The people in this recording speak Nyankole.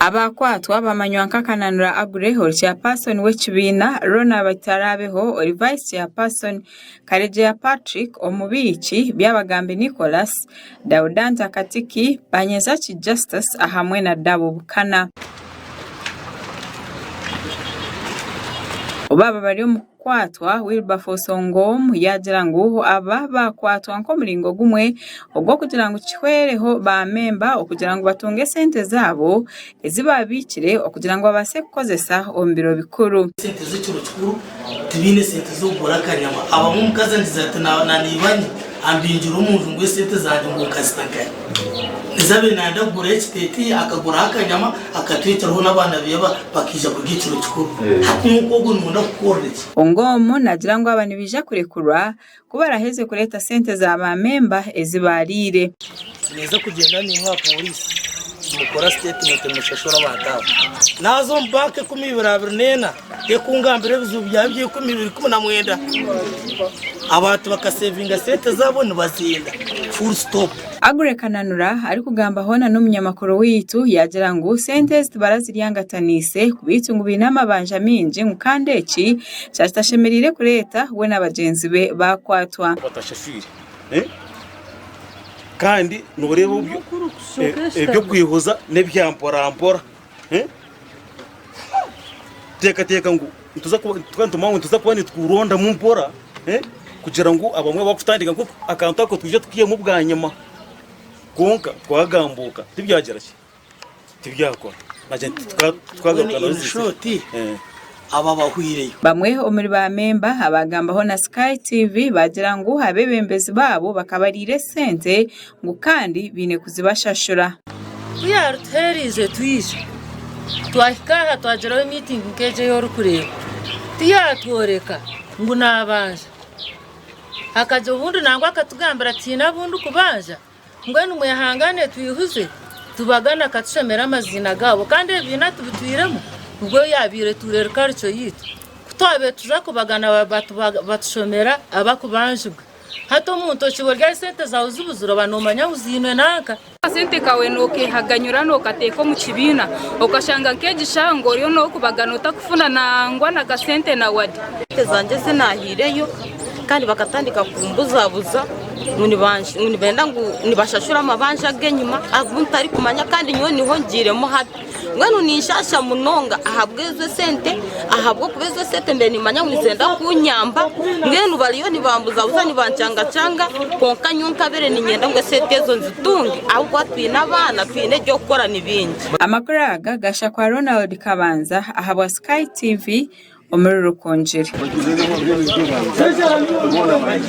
Abaakwatwa bamanywa nka Kananura Aggrey ori chairperson w'ekibiina, Ronald Itaraabeho ori vice chairperson, Karegeya Patrick omubiiki, Byabagambi Nicholas, Daudanti Akatiki, Banyezaki Justus ahamwe na Dabo Bukana. Kwatwa, Wilberforce Ongom yaagira ngu aba baakwatwa nk'omuringo gumwe ogw'okugira ngu kihwereho baamemba okugira ngu batunge sente zaabo ezi baabaikire okugira ngu babaase kukozesa omu biro bikuru. Ampingire omu nju ngu esente zangye ngu nkazita kare. Niza abaire nayenda kuguraho ekiteteeyi akaguraho akanyama akatweteraho n'abaana beye bakaija kurya ekiro kikuru. Hati muka ogwo nooyenda kukukorera ki? Ongom nagira ngu aba nibaija kurekurwa ku baraheze kureeta sente za ba memba ezi baariire. Ninyija kugyenda naimwe aha pooriisi nimukora sitetimenti nimushashura abantu abo. Naaza omu banka ekumi ibiri abiri n'ena Tekungambira ebizibu byawe eby'eikumi biri kumi na mwenda. Abantu bakasevinga sente zaabo nibaziinda. Full stop. Aggrey Kananura arikugamba hoona n'omunyamakuru waitu yaagira ngu sente ezi tibarazirya ngataniise kubeitu ngu baine amabanja maingi ngu kandi eki kyakitashemereire kureeta we na bagyenzi be baakwatwa. batashaswire kandi noreeba eby'okwehoza n'ebya mporampora. Teekateeka ngu nituza kuba nitukurondamu mpora kugira ngu abamwe bakutandika ngu akantu ako twije tukihemu bwanyima. Kwonka twagambuuka tibyagira ki? Tibyakora. Bamwe omuri baamemba abaagambaho na Sky TV baagira ngu abeebembezi baabo bakabariira esente ngu kandi baine kuzibashashura. Ku yaarituheereize twija, twahika aha twagiraho miitingi nk'egi ei orikureeba. Ku yaatworeka ngu naabanja, akagye obundi nangwa akatugambira tihaine abu ndikubanja, mbwenu mwehangaane twihuze tubagane akatushomera amaziina gaabo kandi ebibiina atubitwiremu nibwo yaabaire tuura eri karico yaitu. Ku twabaire tuza kubagana batushomera abakubanjibwa. Hati omuntu okibwe ryari sente zawe zibuzire oba nomanya ahu ziinwe nanka. Akasente kawe nokehaganyura nokateeka omu kibiina okashanga nk'egishango oriyo nokubagana otakufuna nangwa na kasente na wade. Sente zangye ezi nahireyo kandi bakatandika kumbuzabuza ngu nibenda ngu nibashashura amabanja agenyima agu ntarikumanya kandi nyowe niho ngiiremu habi. Mbwenu ninshaasha munonga ahabw'ezo esente ahabw'okuba ezo esente mbaire niimanya ngu nizenda kunyamba mbwenu bariyo nibambuzabuza nibancangacaanga kwonka nyowe nkabaire niinyenda ngu esente ezo nzitunge ahabw'okuba twine abaana twine eby'okukora ni bingi. Amakuru aga gasha kwa Ronald Kabanza ahabwa Sky TV omuri Rukungiri.